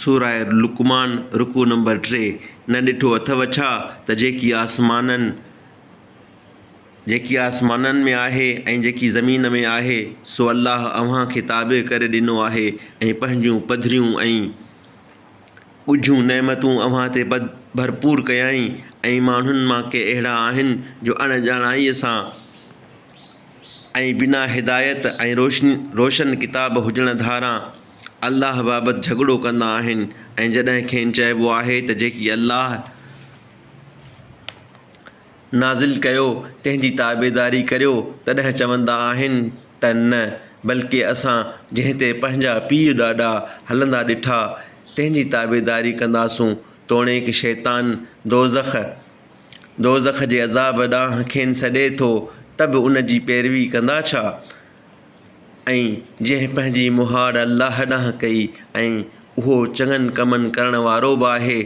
سورة لقمان رڪوع نمبر ٽي نه ڏٺو اٿو ڇا ته جيڪي آسمانن جيڪي آسمانن ۾ آهي ۽ جيڪي زمين ۾ آهي سو الله اوهان کي تابع ڪري ڏنو آهي ۽ پنهنجون پڌريون ۽ ڳجهون نعمتون اوهان تي ڀرپور ڪيائين ۽ ماڻهن مان ڪي اهڙا آهن جو اڻڄاڻائيء سان ۽ بنا هدايت ۽ روشن ڪتاب هجڻ ڌاران الله بابت جهڳڙو ڪندا آهن ۽ جڏهن کين چئبو آهي ته جيڪي الله نازل ڪيو تنهن جي تابعداري ڪريو تڏهن چوندا آهن ته نه بلڪ اسان جنهن تي پنهنجا پيء ڏاڏا هلندا ڏٺا تنهن جي تابعداري ڪنداسون توڻيڪ شيطان دوزخ دوزخ جي عذاب ڏانهن کين سڏي ٿو ته به ان جي پيروي ڪندا ڇا؟ ۽ جنهن پنهنجي مهاڙ الله ڏانهن ڪئي ۽ اهو چڱن ڪمن ڪرڻ وارو به آهي،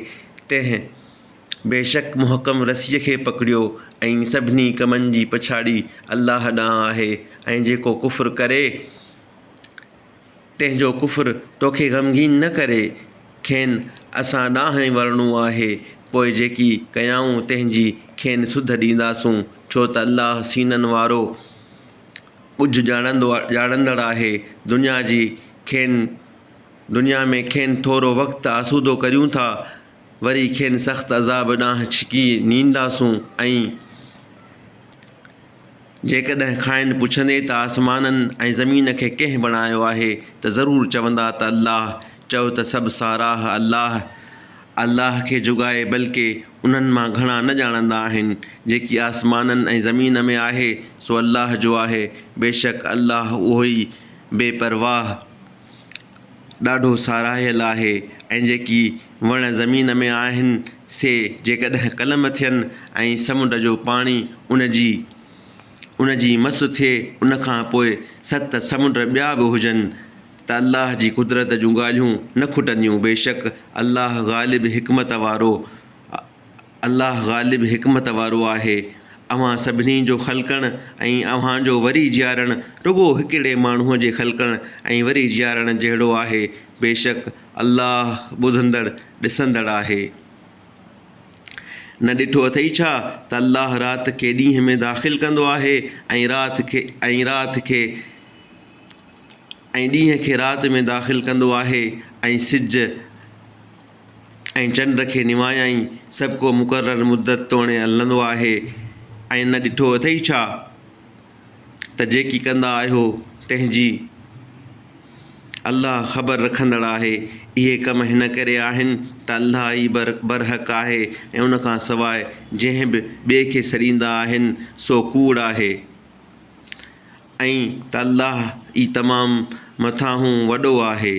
تنهن بيشڪ محڪم رسيء کي پڪڙيو ۽ سڀني ڪمن جي پڇاڙي الله ڏانهن آهي ۽ جيڪو ڪفر ڪري، تنهنجو ڪفر توکي غمگين نه ڪري، کين اسان ڏانهن ئي ورڻو آهي، پوء جيڪي ڪيائون تنهنجي کين سڌ ڏينداسون، ڇو ته الله سينن وارو ڳجهه ڄاڻندو ڄاڻندڙ آهي. دنيا جي کين دنيا ۾ کين ٿورو وقت آسودو ڪريون ٿا، وري کين سخت عذاب ڏانهن ڇڪي نينداسون ۽. جيڪڏهن کانئن پڇندي ته آسمانن ۽ زمين کي ڪنهن بڻايو آهي ته ضرور چوندا ته الله، چؤ ته سڀ ساراهه الله، الله کي جوڳائي بلڪه انهن مان گهڻا نه ڄاڻندا آهن، جيڪي آسمانن ۽ زمين ۾ آهي سو الله جو آهي، بيشڪ الله اهوئي بي پرواهه. ڏاڍو ساراهيل آهي ۽ جيڪي وڻ زمين ۾ آهن سي جيڪڏهن ڪلم ٿين ۽ سمنڊ جو پاڻي ان جي ان جي مس ٿئي ان کان پوء ست سمنڊ ٻيا به هجن ته الله جي قدرت جون ڳالهيون نه کٽنديون بيشڪ الله غالب حڪمت وارو الله غالب حڪمت وارو آهي. اوهان سڀني جو خلقڻ ۽ اوهان جو وري جيارڻ رڳو هڪڙي ماڻهوء جي خلقڻ ۽ وري جيارڻ جهڙو آهي. بيشڪ الله ٻڌندڙ، ڏسندڙ آهي. نه ڏٺو اٿئي ڇا ته الله رات کي ڏينهن ۾ داخل ڪندو آهي ۽ رات کي ۽ رات کي ۽ ڏينهن کي رات ۾ داخل ڪندو آهي ۽ سج ۽ چنڊ کي نوايائين، سڀ ڪو مقرر مدت توڻي هلندو آهي، ۽ نه ڏٺو اٿئي ڇا ته جيڪي ڪندا آهيو تنهن جي الله خبر رکندڙ آهي، اهي ڪم هن ڪري آهن ته الله ئي برحق آهي ۽ ان کان سواء جنهن به ٻئي کي سڏيندا آهن سو ڪوڙ آهي، ۽ ته الله ئي تمام مٿانهون وڏو آهي.